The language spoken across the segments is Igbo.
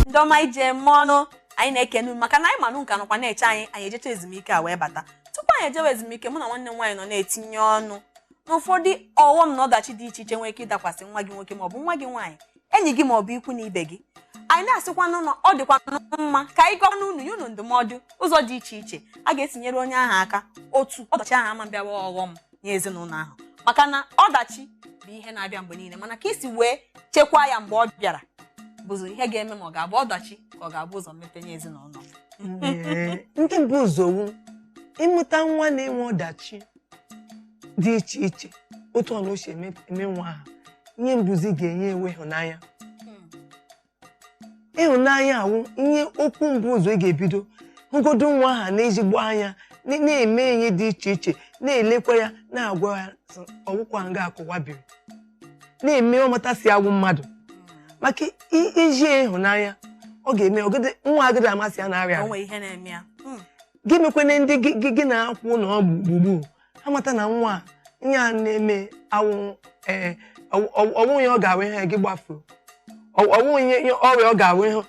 ndị ọma ije eme ọnụ anyị na-ekene unu maka na anyị ma na unu ka nọkwa na-eche anyị anyị ejecha ezumike a wee bata tupu anyị ejewe ezumike mụ na nwanne m nwaanyị nọ na-etinye ọnụ n'ụfọdụ ọghọm na ọdachi dị iche iche nwere ike ịdakwasị nwa gị nwoke maọbụ nwa gị nwaanyị enyi gị maọbụ ikwu na ibe gị anyị na-asịkwanụ na ọ dịkwa mma ka anyị gwanụ unu nye unu ndụmọdụ ụzọ dị iche iche a ga-esi nyere onye ahụ aka otu ọdachi ahụ ama bịawa ọghọm nye ezinụlọ ahụ maka na ọdachi bụ ihe na-abịa mgbe niile mana ka i si wee chekwaa ya mgbe ọ bịara bụzi ihe ga-eme ma ọ ga-abụ ọdachi ka ọ ga-abụ ụzọ mmepe nye ezinụlọ Ee, nke bu ụzọ wụ ị mụta nwa na-enwe ọdachi dị iche iche otu ọbụna o si eme eme nwa ahụ ihe bu ụzọ ị ga-enye wụ ịhụnanya ịhụnanya a wụ ihe okwu mbụ ụzọ ị ga-ebido hụgodu nwa ahụ na ezigbo anya na- na-eme ihe dị iche iche na-elekwa ya na-agwa ya sị, ọ wụghịkwa nga a ka ụwa biri na-eme ọ mata sị ọ wụ mmadụ maka i- iji ịhụnanya ọ ga-eme ọgịdị- nwa agadịghị ama sị ya na-arịa ọrịa. nwere ihe na-eme ya Mm. gị mekwanụ ndị gị- gị gị na ha kwụ na ọ bụ gburugburu ha mata na nwa a ihe a na-eme awụghị ee ọwụghị ihe ọ ga-awụ ị hụ ya gị gbafuo ọwụghị ihe ihe ọrịa ọ ga-awụ ị hụ ya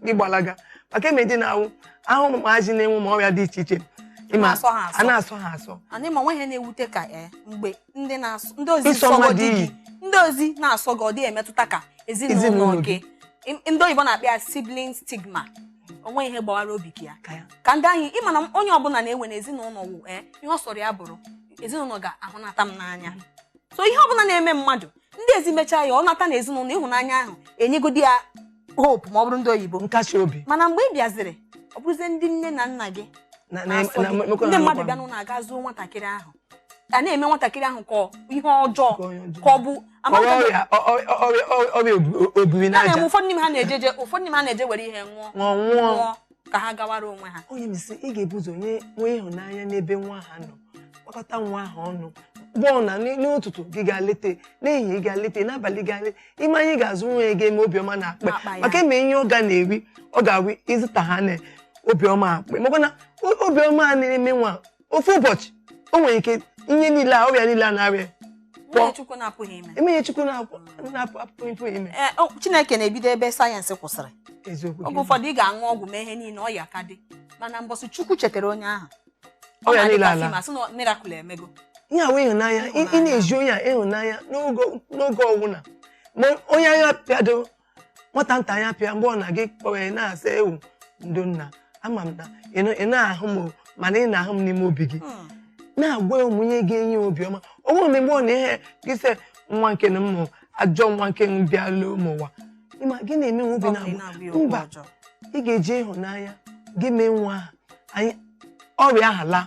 gị gbalaga maka eme dị na-awụ a hụ ụmụazị na-enwe ma ọrịa dị iche iche ịma Na-asọ ha asọ. a na-asọ ha asọ anyị ma o nweghị ihe na-ewute ka ee mgbe ndị na-asọ ndị ezi Ịsọ sọ gị mmadụ di gị oyi. ndị ezi na-asọ gị ọ dịghị emetụta ka ezinụlọ Ezinụlọ gị Im- ndị oyibo na-akpọ ya sibling stigma o nweghị ihe gbawara obi gị aka ya ka ndị ahụ ị ma na onye ọbụla na-ewere na ezinụlọ wụ ee ihe ọ sọrọ ya bụrụ ezinụlọ ga-ahụnata m n'anya so ihe ọbụla na-eme mmadụ ndị ezi mechaa ya ọ nata na ezinụlọ ịhụnanya ahụ enyegodi ya hope ma ọ bụrụ ndị oyibo nkasi obi mana mgbe ị bịaziri ọ bụrụzie ndị nne na nna gị na- na- na-asọ na- gị, emekwa na ndị mmadụ anụkwa bịa n'ụnọ agaa zoo nwatakịrị ahụ a na-eme nwatakịrị ahụ ka ihe ọjọọ ka ọ bụ obiri n'aja ụfọdụ n'ime ha na-eje je ụfọdụ n'ime ha na-eje were ihe ṅụọ nwụọ ka ha gawara onwe ha onye misi ị ga-ebu ụzọ nye nwee ịhụnanya n'ebe nwa ahụ nọ kpakọta nwa ahụ ọnụ gbọọ na n'ụtụtụ gị ga leta n'ehihie ị ga leta n'abalị ga leta ị ma ihe ị ga-azụ nwa ya ga-eme obiọma n'akpa maka eme ihe ọ ga na-eri ọ ga-awụ ịzụta ha na obiọma akpa makwa na obiọma a na-eme nwa ofu ụbọchị o nwere ike ihe niile a ọrịa niile a na-arịa O nweghị ihe Chukwu na-apụghị ime. enweghị ihe chukwu na-apụ na-apụ apụ ife ime Ee, o- Chineke na-ebido ebe sayensị kwụsịrị eziokwu oge ụfọdụ ị ga-aṅụ ọgwụ mee ihe niile ọya ka dị mana mbọsị Chukwu chetara onye ahụ Ọ ọrịa na-adị niile ka alaa fịam, a sị na miracle emego ihe a wụ ịhụnanya ị ị na-ezi onye a ịhụnanya n'oge n'oge ọwụna ma onye ahụ pịado nwata nta anya pịa mgbe ọ na gị kpọọ ya na-asị ewu ndo nna ama m na ị naghị ahụ m o, mana ị na-ahụ m n'ime obi gị Hmm. na-agwa ya ụmụ ihe ga-enye ya obiọma ọ bụghị mgbe ọ na ihe gị sị nwa nke na mmụ ajọ nwa nke bịalụ m ụwa ịma gị na-eme nwa obi Ọ bụ na na-agba na-agwa ya okwu mba ọjọọ. ị ga-eji ịhụnanya gị mee nwa ahụ anyị ọrịa ahụ alaa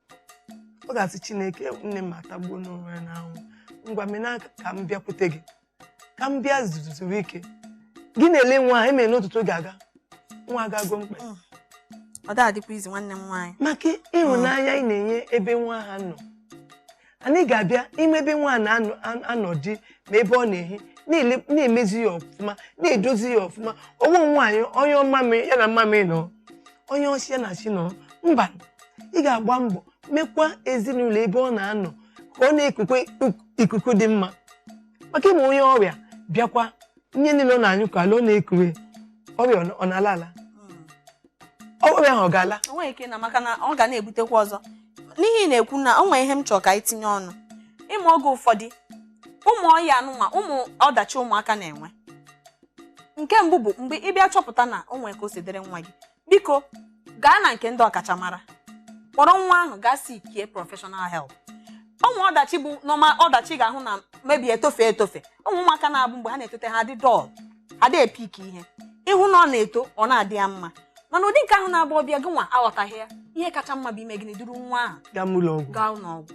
ọ ga-asị chineke nne m atagbuona onwe ya n'ahụhụ ngwa mena ka m bịakwute gị ka m bịa zuru ike gị na-ele nwa ahụ emere n'ụtụtụ ga-aga nwa agago mkpa mm. ọ da-adịkwa easy nwanne m nwaanyị maka ịhụnanya ị na-enye ebe nwa ahụ nọ and ị ga-abịa ime ebe nwa na-anọdị ma ebe ọ na-ehi na-ele- na-emezi ya ọfụma na-edozi ya ọfụma ọ bụghị nwa gị ọ nyụọ mmamị ya na mmamị nọ ọ nyụọ nsị ya na nsị nọ mba ị ga-agba mbọ mekwa ezinụlọ ebe ọ na-anọ ka ọ na-ekukwe ikuku dị mma maka ịma onye ọrịa bịakwa ihe niile ọ na-anyụkọ ala ọ na-ekure ọrịa ọ na- ọ na-ala ala ọrịa ahụ ọ ga-ala o nweghị ike ịla maka na ọ ga na-ebutekwa ọzọ n'ihe ị na-ekwu na o nwere ihe m chọrọ ka anyị tinye ọnụ ịma oge ụfọdụ ụmụ ọya anụnwa ụmụ ọdachi ụmụaka na-enwe nke mbụ bụ mgbe ị bịa chọpụta na o nwere ka o si dịrị nwa gị biko gaa na nke ndị ọkachamara kpọrọ nwa ahụ gaa seekie professional help ụmụ ọdachi bụ normal ọdachi ga-ahụ na maybe etofe etofe ụmụ ụmụaka na-abụ mgbe ha na-etote ha adị dull adị epick ihe ịhụ na ọ na-eto ọ na-adị ya mma mana ụdị nke ahụ na-abụ ọ bịa gị nwa aghọtaghị ya ihe kacha mma bụ ime gịnị duru nwa ahụ gaa n'ụlọ ọgwụ gaa ụlọ ọgwụ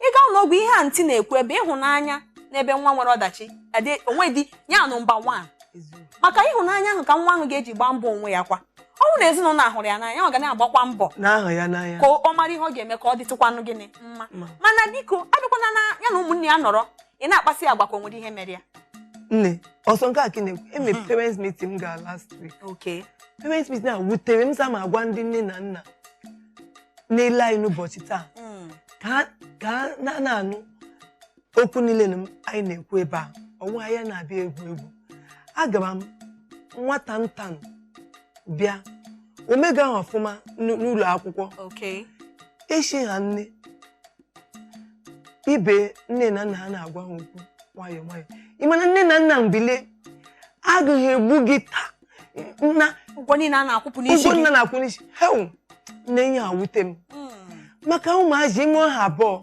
ịga ụlọ ọgwụ ihe aunty na-ekwu ebe ịhụnanya n'ebe nwa nwere ọdachi adị onwe dị ya number one eziokwu maka ịhụnanya ahụ ka nwa ahụ ga-eji gbaa mbọ onwe ya kwa ọ bụrụ na ezinụlọ hụrụ ya n'anya ọ ga na-agbakwa mbọ na-ahụ ya n'anya ka ọ mara ihe ọ ga-eme ka ọ dịtụkwanụ gịnị mma Ma. mana biko abịakwana na ya na ụmụnne ya nọrọ ị na-akpasị ya agwa ka o nwere ihe mere ya nne ọsọ nke a ka ị na-ekwu e nwere parents meeting m gara last week okay parents meeting a wutere m so m ga-agwa ndị nne na nna na-ele anyị n'ụbọchị taa Mm. ka ha- ka ha na-anụ okwu niile anyị na-ekwu ebe a ọ bụghị anyị na-abịa egwu egwu agara m nwata nta m bịa o megahụ ọfụma n'ụ- n'ụlọ akwụkwọ Okay. echi ha nne ibe nne na nna ha na-agwa ha okwu nwayọọ nwayọọ ị ma na nne na nna bilie agaghị egbu gị taa na Ụgwọ niile a na-akwụpụ n'isi ụgwọ gị. nna na-akwụ n'isi hew nne ya awute m Mm. maka ụmụazị ime ọha abụọ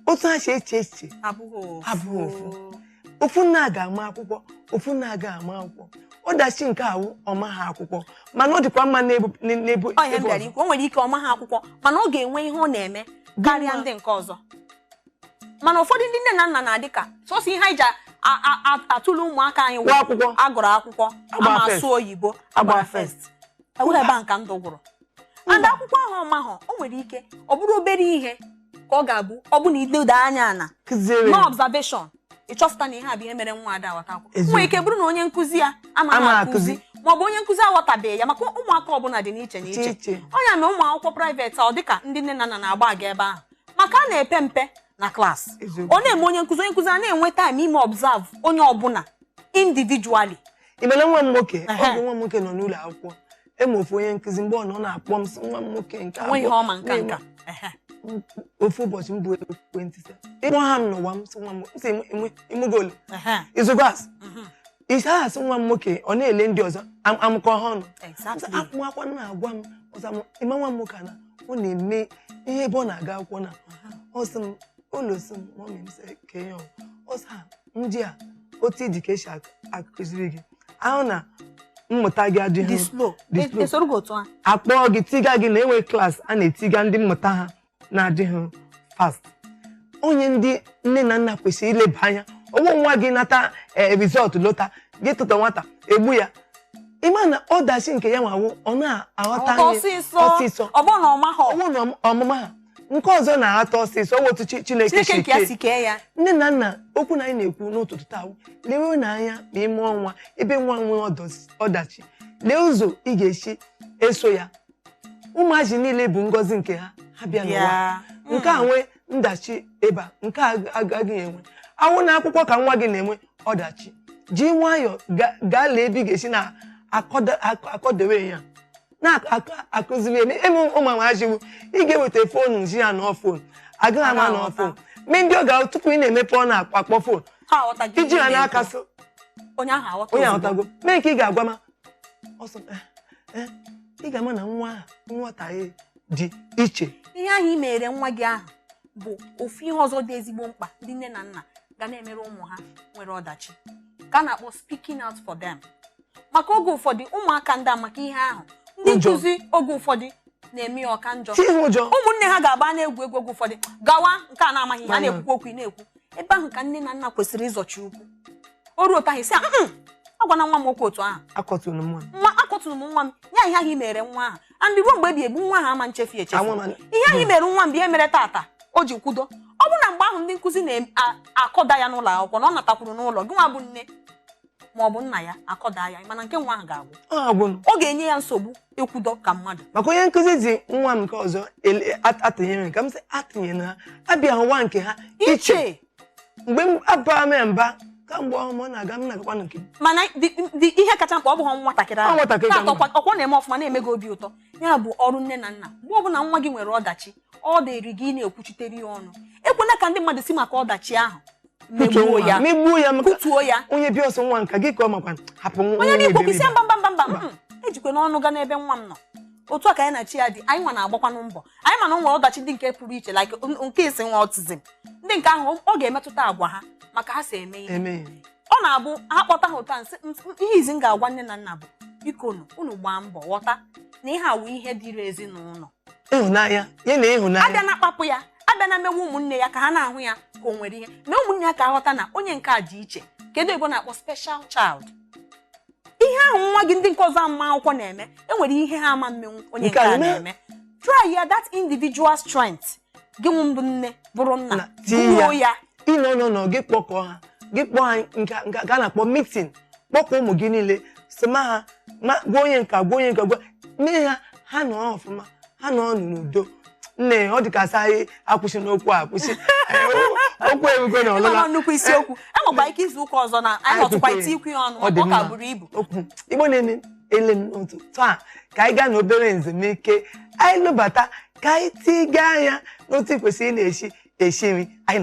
otu ha si eche echiche abụghị abụghị ofu ofu nna ga-ama akwụkwọ ofu nna ga ama akwụkwọ ọdachi nke a wụ ọ maha akwụkwọ mana ọ dịkwa mma n'ebe n'ebe ọ ya bịara ikwu o nwere ike ọ maha akwụkwọ mana ọ ga-enwe ihe ọ na-eme karịa ndị nke ọzọ mana ụfọdụ ndị nne na nna na-adị ka sọsọ ihe anyị ji atụle ụmụaka anyị wụ akwụkwọ a gụrụ akwụkwọ a ma asụ oyibo a gbara first e were ebe ahụ ka ndụ gwụrụ and akwụkwọ ahụ ọ mahọ o nwere ike ọ bụrụ obere ihe ka ọ ga-abụ ọ bụ na iledo anya na observation ịchọpụta na ihe a bụ ihe mere nwa ada aghọta akwụkwọ Eziokwu. nwere ike bụrụ na onye nkụzi ya Ama amaghị akụzi. akụzi ma ọ bụ onye nkụzi aghọtabeghị ya maka ụmụaka ọbụla dị n'iche iche n'iche iche ọ ya mere ụmụ akwụkwọ private ọ dịka ndị nne na nna na-agbaga ebe ahụ maka a na-epe mpe na class Eziokwu. ọ na-eme onye nkụzi onye nkụzi a na-enwe time ime observe onye ọbụla individually ị ma na nwa m nwoke Ehe. oge nwa m nwoke nọ n'ụlọ akwụkwọ e nwe ofu onye nkụzi mgbe ọ nọ ọ na-akpọ m sị nwa m nwoke nke nwe ihe abụọ ọ ma nka nka Ehe. ofu ụbọchị m buru ekwentị sị, ịkpọ ha m n'ụwa m sị nwa m sị imugolu Ehe. izugo asị Mhm. ise ahụ asị nwa m nwoke ọ na-ele ndị ọzọ am- amụkọ ha ọnụ Exactly. akwụkwọ na-agwa m ọzọ m ị ma nwa m nwoke a na ọ na-eme ihe ebe ọ na-aga akwụkwọ na ọ sị m ụlọ sị m mọmị m sị ka ihe ọ sị ha ndị a otu ịdị ka e si ak- akụziri gị ahụ na mmụta gị adịghị dị slow Dị slow. e soro gị otu a a kpọọ gị tiga gị na e nwe class a na-etiga ndị mmụta ha na-adịghị fast ọ ihe ndị nne na nna kwesịrị ileba anya ọ wụ nwa gị nata ee result lota gị tụta nwata egbu ya ị ma na ọdachi nke ya nwe wụ ọ na-aghọta ọta ihe ọsịsọ ọsịsọ ọ bụrụ na ọ maghị ọ wụ na ọmụma ha nke ọzọ na-aghọta ọsịsọ ọ bụ otu Chi- Chineke Chineke si nke ya kee. si kee ya nne na nna okwu na anyị na-ekwu n'ụtụtụ taa bụ, lewenụ anya ma ime o nwe ebe nwa nwee ọdọs- ọdachi lee ụzọ ị ga-esi eso ya ụmụazị niile bụ ngọzi nke ha ha bịa n'ụwa bịa nke a nwee ọdachi ebe a nke a agaghị enwe ọ wụ na akwụkwọ ka nwa gị na-enwe ọdachi ji nwayọọ ga- gaa lee ebe ị ga-esi na-akwado- akwa- akwadowe ya na-akụziri eme eme ụmụazị bụ ị ga-eweta fonu sị ya nọ fon agaghị ama nọ fon e nwe ndị ọ ga tupu ị na-emepe ọnụ akpọ akpọ fon Ha aghọtaghị iji ihe ha ị na-ekwu. n'aka so onye ahụ aghọta onye ozugbo. aghọtago mee nke ị ga-agwa ma ọsọ eh, eh, ị ga-ama na nwa ahụ nghọta ya dị iche ihe ahụ ị mere nwa gị ahụ bụ ofu ihe ọzọ dị ezigbo mkpa ndị nne na nna ga na-emere ụmụ ha nwere ọdachi ka a na-akpọ speaking out for them maka oge ụfọdụ ụmụaka na-ada maka ihe ahụ ndị Ụjọ. nkụzi oge ụfọdụ na-eme ya ọ ka njọ Ihe ụjọ. ụmụnne ha ga-agba na-egwu egwu oge ụfọdụ gawa nke a na-amaghị ihe a Mama. na-ekwukwa okwu ị na-ekwu ebe ahụ ka nne na nna kwesịrị ịzọchi ụkwụ o ruo otu ahụ sị a "Mm, agwana nwa m okwu otu ahụ akọtụrụ m nwa nwa akọtụrụ m nwa m ya ihe ahụ i mere nwa ahụ and ruo mgbe ebighị ebi nwa ahụ ama nchefu echefu Anwa ma- ihe ahụ i mere nwa m bụ ihe mere tata o ji kwụdo ọ bụ na mgbe ahụ ndị nkụzi na-akọda ya n'ụlọ akwụkwọ na ọ natakwuru n'ụlọ gị nwa bụ nne ma ọ bụ nna ya akọda ya ma na ike nwa ahụ ga-agwụ Ọ agwụ m. ọ ga-enye ya nsogbu ịkwụdo ka mmadụ maka onye nkụzi ji nwa m nke ọzọ ele- at- atụnyere m ka m sị atụnyere na ha abịa ụwa nke ha iche iche mgbe m abara m ya mba kamgbe ọhụrụ m ọ na-aga m na-agakwa na nke m. mana dị- dị- ihe kacha mkpa ọ bụghị nwatakịrị Ọ ahụ nwatakịrị ka Na-atọ mma. ọkwa- ọkwa na-eme ọfụma na-eme gị obi ụtọ ya bụ ọrụ nne na nna mgbe ọ bụla nwa gị nwere ọdachi ọ dịrị gị ị na-ekwuchitere ya ọnụ ekwela ka ndị mmadụ si maka ọdachi ahụ megbuo Kụtuo ya ya megbuo ya maka kụtuo ya onye bịa ọsọ nwa nka gị ka ọ makwa hapụ nwa onye nwa na-ekwu okwu isi iberibe. mba mba mba mba mm, ejikwana ọnụ ga n'ebe nwa m nọ otu a ka ya na chi ya dị anyị nwa na-agbakwanụ mbọ anyị ma na o nwere ọdachi ndị nke pụrụ iche like n- nke isi nwa autism ndị nke ahụ ọ ga-emetụta agwa ha ma ka ha si eme ihe Eme. ọ na-abụ ha kpọta ha ụta nsị "M- m- ihe izizi m ga-agwa nne na nna bụ biko nụ unu gbaa mbọ ghọta na ihe a wụ ihe dịrị ezinụlọ ịhụnanya ya na ịhụnanya abịana akpapụ ya abịana mewe ụmụnne ya ka ha na-ahụ ya ka o nwere ihe mee ụmụnne ya ka ha ghọta na onye nke a dị iche nke ndị oyibo na-akpọ special child ihe ahụ nwa gị ndị nke ọzọ ma akwụkwọ na-eme enwere ihe ha ama mmenwu onye nke a na-eme try ya that individual strength gị nwa bụ nne bụrụ nna tinye ya ị nọ nọ nọ gị kpọkọọ ha gị kpọọ ha nke nke a na-akpọ meeting kpọkọọ ụmụ gị niile si ma ha ma gwa onye nka gwa onye nka gwa mee ha ha nọ ọfụma ha nọ ọnụ n'udo nne ọ dị ka a sị anyị akwụsịna okwu a akwụsị okwu ebugo na ịma ọlụla na nnukwu isiokwu enwekwa ike izu ụka ọzọ na anyị nọtụkwa itikwu ya ọnụ Ọ dị maka ọ ka mma. buru ibu okwu Igbo na-eme ele m n'otu taa ka anyị gaa na obere nzumike anyị lọbata ka anyị tiga anya n'otu e kwesịrị ị na-esi esi nri anyị